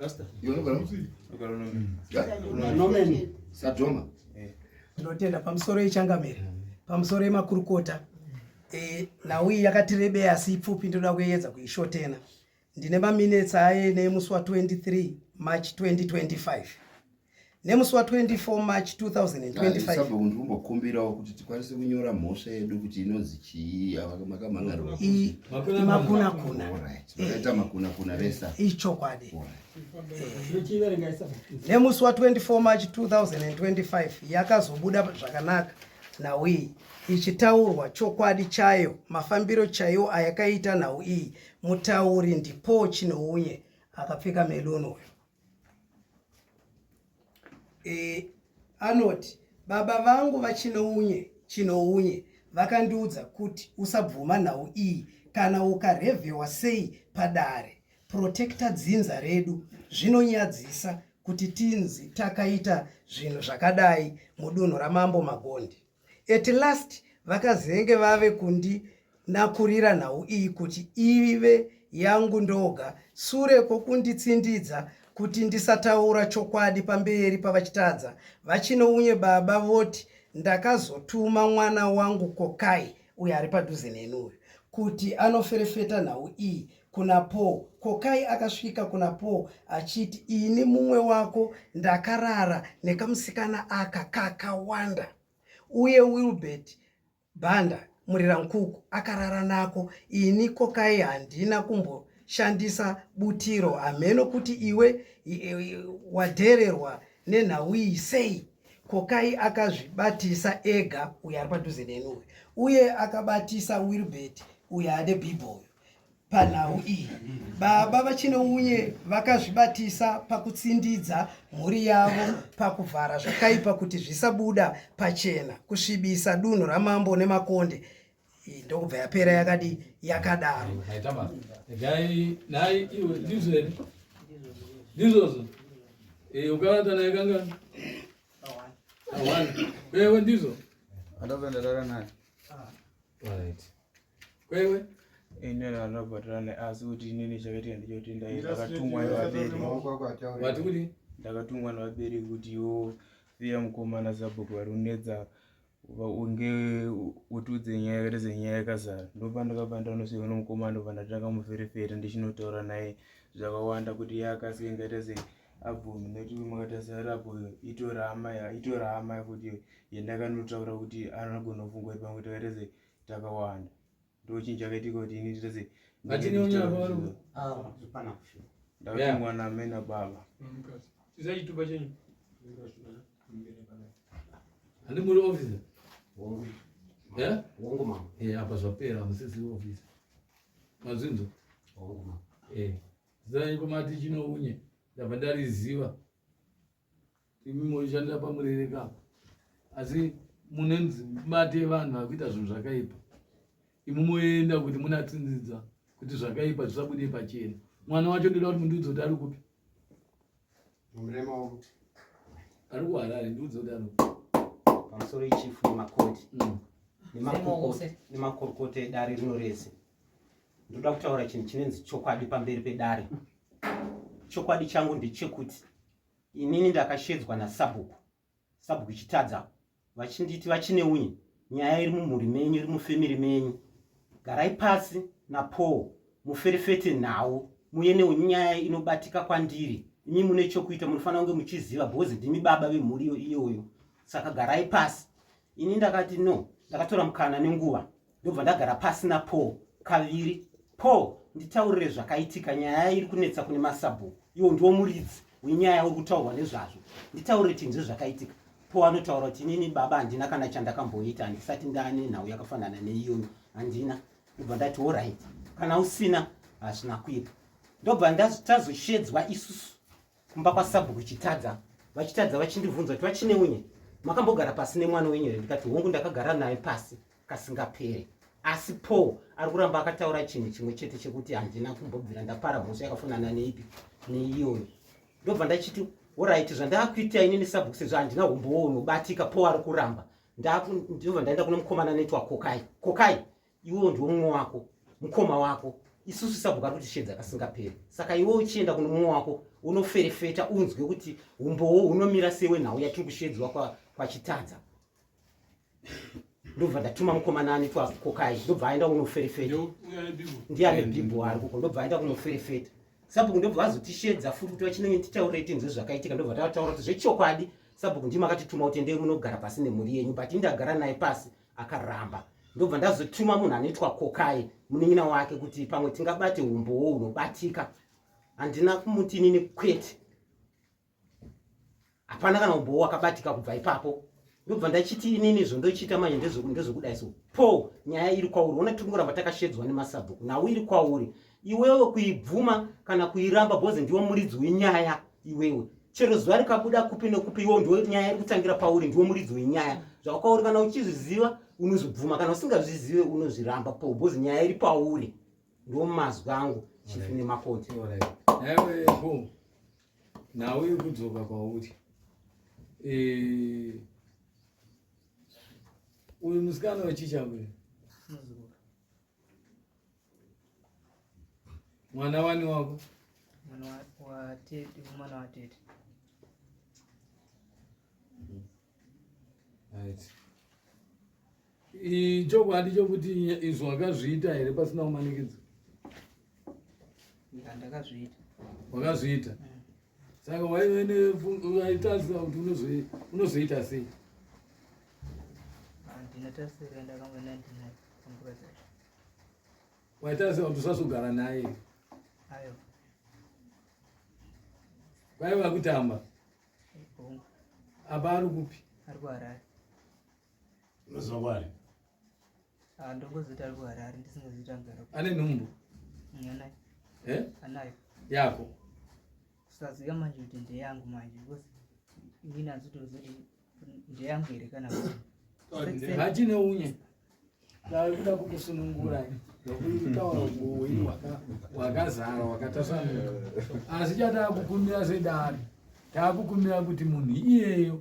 Rasta. Iwe unogara musi? Unogara unomeni. Yeah? Unomeni. Sadoma. Eh. Ndinotenda pamusoro yechangamire. Pamusoro yemakurukota. Eh, nhau iyi yakatirebei asi ipfupi ndoda kuedza kuishotena. Ndine maminetsi aye nemusi wa 23 March 2025. nemusi wa24 march 2025 kuti tikwanise kunyora mhosva yedu kuti inonzi chii makamangaroakunakuna vesa ichokwadi nemusi wa24 march 2025 yakazobuda zvakanaka nhau iyi ichitaurwa chokwadi chayo mafambiro chaiwo ayakaita nhau iyi mutauri ndipo chinounye akapfeka meloni uyo e, anoti baba vangu vachinounye chinounye vakandiudza kuti usabvuma nhau iyi kana ukarevhewa sei padare protecta dzinza redu zvinonyadzisa kuti tinzi takaita zvinhu zvakadai mudunhu ramambo magondi At last vakazenge vave kundinakurira nhau iyi kuti ive yangu ndoga sure kwokunditsindidza kuti ndisataura chokwadi pamberi pavachitadza vachinounye baba voti ndakazotuma mwana wangu kokai uyo ari padhuze neni uyu kuti anoferefeta nhau iyi kuna Paul. Kokai akasvika kuna Paul achiti, ini mumwe wako ndakarara nekamusikana aka kakawanda, uye Wilbert Banda Murirankuku akarara nako. Ini Kokai handina kumboshandisa butiro, hameno kuti iwe wadhererwa nenhau iyi sei? Kokai akazvibatisa ega uyo ari padhuze neni uyo, uye akabatisa Wilbert uyo ane bhibho uyo. panhau iyi baba vachinounye vakazvibatisa pakutsindidza mhuri yavo pakuvhara zvakaipa kuti zvisabuda pachena kusvibisa dunhu ramambo nemakonde ndokubva yapera yakadi yakadaro ndizozo eh, ukarata naye kangani awana wewe ndizo andazoendarara naye kwewe ine vanobhadhara neasi kuti inini chakaitika ndichoti ndakatumwa nevaberivati kuti ndakatumwa nevabereki kuti iwo viya mukomana zabhuku vari kunetsa unge utiudze nyaya yakaita senyaya yakazara ndopandakabva ndanosvika nomukomana ndobva ndatanga muferefere ndichinotaura naye zvakawanda kuti yaakasike ngaita sei abvumi nekuti makatarisira apo itorama itorama kuti yendakanotaura kuti anogona kufunga kuti pamwe takaita sei takawanda ndochinhu chakaitika kuti ini nditose ndakuti mwana amena baba tisaituba chenyu handi muri officer hongu mama eh apa zvapera musisi officer mazvinzo hongu mama eh zai komati chinounye ndabva ndariziva imi moishandira pamurere ka asi mune mate yevanhu vakuita zvinhu zvakaipa imi moenda kuti munatsinzidza kuti zvakaipa zvisabude pachena mwana wacho ndoda kuti mundiudze kuti ari kupi ari kuharare ndiudze kuti ari kupi pamusoro ichifu nemakoti mm. nemakorokota edare rino rese ndoda kutaura chinhu chinenzi chokwadi pamberi pedare chokwadi changu ndechekuti inini ndakashedzwa nasabhuku sabhuku chitadza vachinditi vachine unye nyaya iri mumhuri menyu iri mufemiri menyu garai pasi napaul muferefete nhau muye neunyaya inobatika kwandiri imi mune chokuita munofanira kunge muchiziva bhozi ndimi baba vemhuri iyoyo saka garai pasi ini ndakati no ndakatora mukana nenguva ndobva ndagara pasi napaul kaviri paul nditaurire zvakaitika nyaya iri kunetsa kune masabhuku iwo ndiwo muridzi wenyaya uri kutaurwa nezvazvo nditaurire tinzwe zvakaitika paul anotaura kuti inini baba handina kana chandakamboita handisati ndane nhau yakafanana neiyoyo handina ndobva ndati orit kana usina hazvina kuipa ndobva tazoshedzwa isusu kumba kwasabhuku chitadza vachitadza vachindibvunza kuti vachine unye makambogara pasi nemwana wenyu here ndikati hongu ndakagara naye pasi kasingapere asi paul ari kuramba akataura chinhu chimwe chete chekuti handina kumbobvira ndapara mhosva yakafanana neipi neiyoyo ndobva ndachiti orit zvandakuita inini sabhuku sezvo handina humbowo unobatika paul ari kuramba ndobva ndaenda kune mukomana anoitwa kokai kokai iwewo ndiwo mumwe wako mukoma wako isusu sabhuka kuti shedza kasingaperi saka iwe uchienda kuno mumwe wako unoferefeta unzwe kuti umbowo unomira sewe nhau yatiri kushedzwa kwachitadza kwa ndobva ndatuma mukomana ane twakokai ndobva aenda kunoferefeta ndiye ane bhibho ari kuko ndobva aenda kunoferefeta sabhuku ndobva vazotishedza futi kuti vachinenge titaurei tinzwe zvakaitika ndobva tavataura kuti zvechokwadi sabhuku ndima akatituma kuti endei munogara pasi nemhuri yenyu but indagara naye pasi akaramba ndobva ndazotuma munhu anoitwa kokai munin'ina wake kuti pamwe tingabate umbowo hunobatika handina kumuti inini kwete hapana kana umbowo wakabatika kubva ipapo ndobva ndachiti inini izvo ndochiita manje ndezvekudai so po nyaya iri kwauri ona tiri kuramba takashedzwa nemasabhuku nhau iri kwauri iwewe kuibvuma kana kuiramba bhozi ndiwo muridzi wenyaya iwewe chero zuva rikabuda kupi nekupi iwo ndiwo nyaya iri kutangira pauri ndiwo muridzi wenyaya zvakwauri kana uchizviziva unozvibvuma kana usingazvizive unozviramba pobhozi nyaya iri pauri ndiwo mazwi angu chifi nemakoti nhau iri kudzoka kwauri eh, uyu musikana wechicha uyu mwana wani wako mwana watete mwana watete right ichokwadi chokuti izvo wakazviita here pasina kumanikidzwa ndakazviita wakazviita mm. saka waitaziva kuti unozoita sei waitaziva kuti usazogara naye kwaiva kutamba apa ari kupi ari kuharare unoziva kwari Ah, ndongozoita ari kuharare ndisingazoita mugara ane nhumbu mm, anayo eh? anayo yako kusaziva manje kuti ndeyangu manje because inini azitozoti ndeyangu here kana hachine unye kuda kukusunungura nokutaura ubuwini wakazara wakatasanuka asi chataakukumbira sedari taakukumbira kuti munhu iyeyo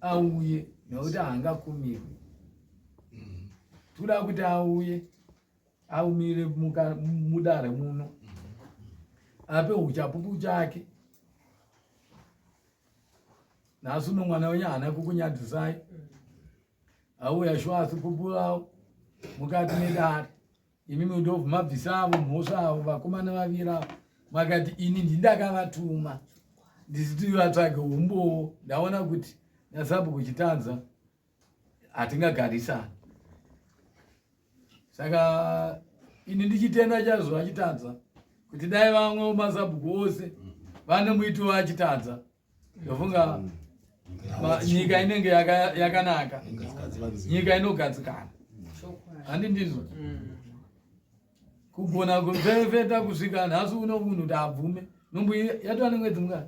auye nokuti haangakumirwi mm-hmm. tikuda kuti auye aumire mudare muno mm-hmm. ape uchapupu chake nhasi uno mwana wenyu haana kukunyadzisai auya shuwa asi pupurawo mukati medare imi mudobvu mabvisavo mhosva avo vakomana vaviri avo makati ini ndindakavatuma ndisiti vatsvage umbowo ndaona kuti nasabu kuchitanza hatingagarisani saka ini ndichitenda chazvo achitadza kuti dai vamwe mazabhuku ose vane muiti waachitadza ndofunga nyika inenge yakanaka nyika inogadzikana handi ndizvo kugona kuferefeta kusvika nhasi uno munhu taabvume nombo yatova nemwedzi mungani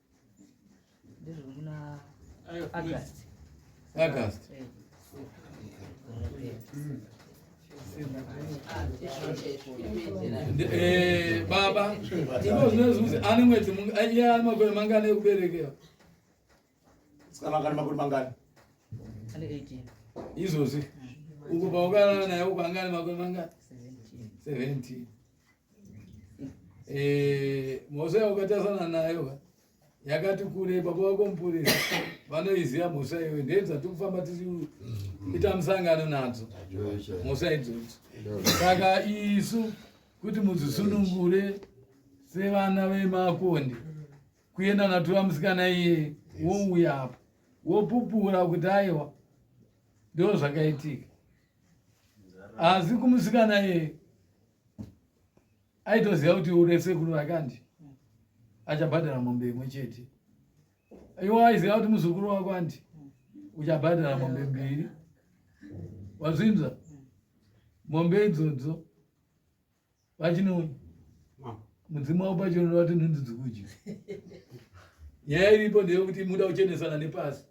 Eh, baba ivo zvinozunzi ani mwedzi iye ani makore mangani ekuberekera sikamangani makore mangani izvozvi uku paukana naye uku angani makore mangani 17 Eh, mhosva yaukatasana nayo yakati kure baba vako mupurisa vanoiziva mhosva iyoyo ndeyedzati kufamba tichiita mm. musangano nadzo mhosva idzodzo saka isu kuti mudzisunungure sevana vemakonde kuenda natura musikana iye wouya apo wopupura kuti aiwa ndo zvakaitika asi kumusikana iye aitoziva kuti ure sekuru vake andi achabhadhara mombe imwe chete iwo aiziva kuti muzukuru wako andi uchabhadhara mombe mbiri wazvinzwa mombe idzodzo vachinoona mudzimu wavo pachinoona vati nhunzi dzikudya nyaya iripo ndeyekuti muda kuchenesana nepasi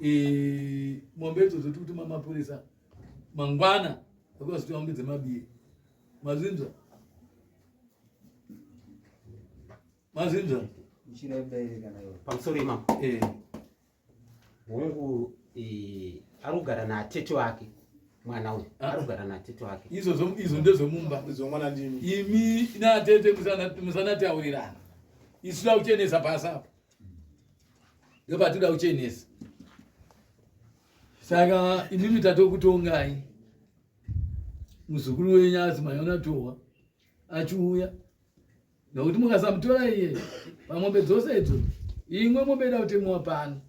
Eh, mombe idzo dzoti kuti mamapurisa mangwana vakazoti mombe dzemabiye mazinza mazinza pamusoro imam eh. hongu eh, ari kugara natete wake mwana uyu ah. ari kugara natete wake izvozvo izvo ndezvemumba izvomwana ndimi imi natete musanataurirana isu takuchenesa pasi apa ndopatinoda kuchenesa saka imimi tatokutongai muzukuru wenyu azi manyona tohwa achiuya nokuti mukasamutora iye pamombe dzose idzo imwe mombe ida kutemuwa pano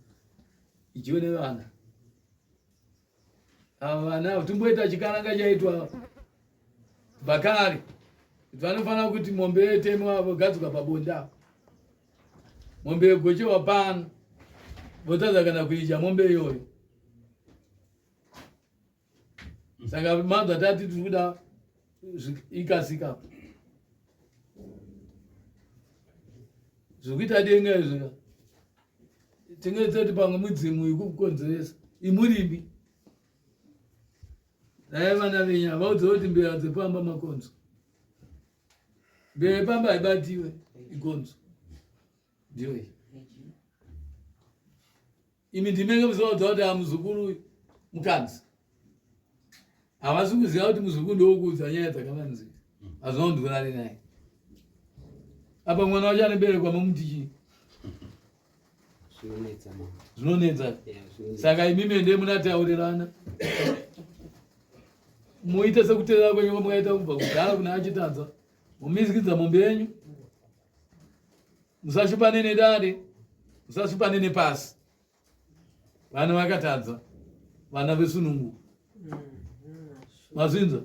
ichione vana Ava navo timboita chikananga chaitwa Bakari. Vanofanira kuti mombe yetemwa vogadzikwa pabonde apo. Mombe yegochewa pano votadza kana kuidya mombe iyoyo. Saka manzwa tati tiri kuda ikasika apo. Zvikuita denga izvika. tingaita kuti pamwe mudzimu ikukukonzeresa imurimi dai vana venyu havaudze kuti mbira dzepamba makonzo mbira yepamba haibatiwe ikonzo ndiyo iyi imi ndimenge muzovaudza kuti amuzukuru mukadzi havasi kuziva kuti muzukuru ndowokuudza nyaya dzakavanzika hazvina kundivurari naye apa mwana wacho anoberekwa mamuti chii zvinonetsa saka imi mende munataurirana muite sekuterera kwenyu kwamukaita kubva kudhara kuna achitadza mumizikidza mombe yenyu musashupane nedare musashupane nepasi vana vakatadza vana vesunungu mazvinza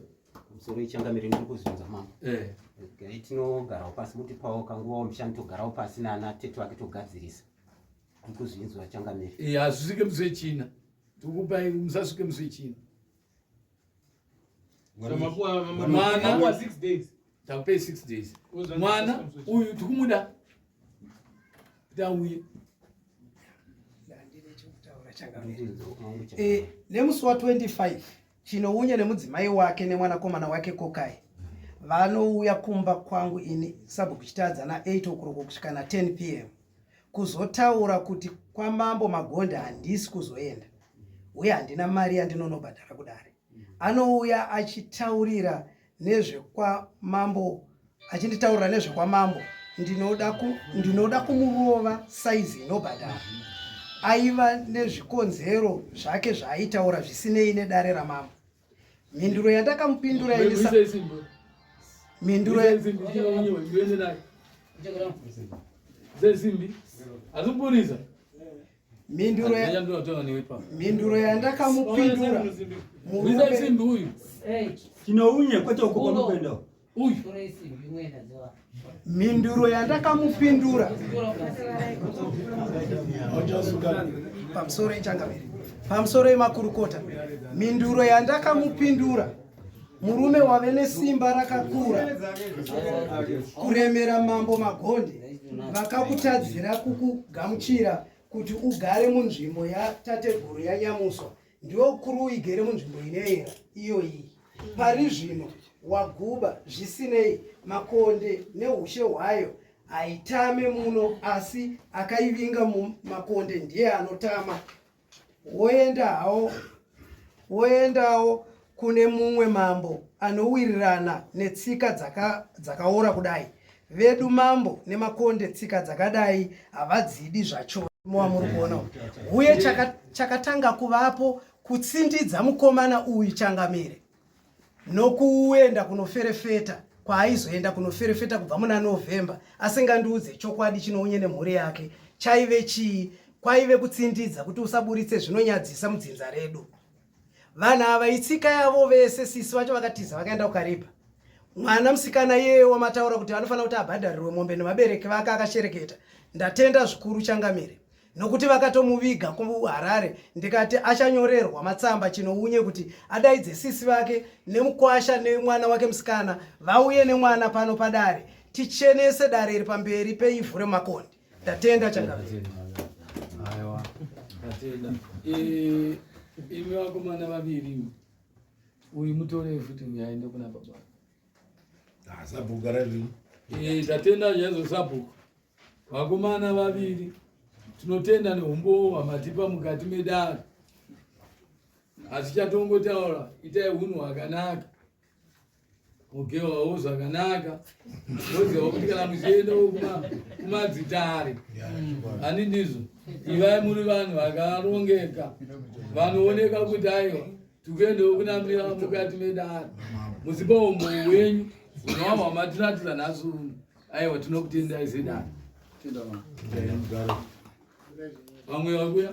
musoro ichangamire ndiri kuzvinza mama eh. gai tinogarawo pasi mutipawo kanguva wamishani togarawo pasi nana tete vake togadzirisa ndiri kuzvinzwa changamire eh, hazvisvike musi wechina tikupai musasvike musi wechina takupei six days mwana uyu tikumuda kuti auye eh, nemusi wa 25 chinounya nemudzimai wake nemwanakomana wake kokai vanouya kumba kwangu ini sabhuku chitadza na 8 okuroko kusvika na 10 pm kuzotaura kuti kwamambo magonde handisi kuzoenda uye handina mari yandinonobhadhara kudare anouya achitaurira nezvekwamambo achinditaurira nezvekwamambo ndinoda ku, ndinoda kumurova saizi inobhadhara aiva nezvikonzero zvake zvaaitaura zvisinei nedare ramambo Mhinduro yandakamupindura Elisa. Mhinduro zezimbi azikuburiza mhinduro mhinduro yandakamupindura murume uyu tinounye kwete uko kwamukuenda uyu mhinduro yandakamupindura pamusoro yechangamire pamusoro yemakurukota mhinduro yandakamupindura murume wave nesimba rakakura kuremera mambo magonde vakakutadzira kukugamuchira kuti ugare munzvimbo yatateguru yanyamuswa ndiwe ukuru uigere munzvimbo inoera iyoyi pari zvino waguba zvisinei makonde neushe hwayo haitame muno asi akaivinga mumakonde ndiye anotama woenda hawo woendawo kune mumwe mambo anowirirana netsika dzaka, dzakaora kudai vedu mambo nemakonde tsika dzakadai havadzidi zvacho mowa muri kuona uye chaka, chakatanga kuvapo kutsindidza mukomana uyu changamire nokuenda kunoferefeta kwaaizoenda kunoferefeta kubva muna novhemba asingandiudze chokwadi chinounye nemhuri yake chaive chii kwaive kutsindidza kuti usaburitse zvinonyadzisa mudzinza redu vanhu ava itsika yavo vese sisi vacho vakatiza vakaenda kukaripa mwana musikana yeye wamataura kuti vanofanira kuti abhadharirwe mombe nevabereki vake akashereketa ndatenda zvikuru changamire nokuti vakatomuviga kuharare ndikati achanyorerwa matsamba chinounye kuti adaidze sisi vake nemukwasha nemwana wake musikana vauye nemwana pano padare tichenese dare iri pamberi peivhu remakondi Tatenda Changamire. Aiwa. Tatenda. Eh, imi vakomana vaviri uyu mutore futi uyu aende kuna baba. Ah, sabhuku gara zvino. Eh, tatenda zvaizvo sabhuku. Vakomana vaviri tinotenda neumbowo hwamatipa mukati medare asi chatongotaura itai hunhu hwakanaka mugewawo zvakanaka oziva kuti kana muchienda kumadzitare ani ndizvo ivai muri vanhu vakarongeka vanooneka kuti aiwa tikuendawo kunamira mukati medare muzipa umbo wenyu unowawa matiratira nhasi uno aiwa tinokutendai zedare vamwe vakuya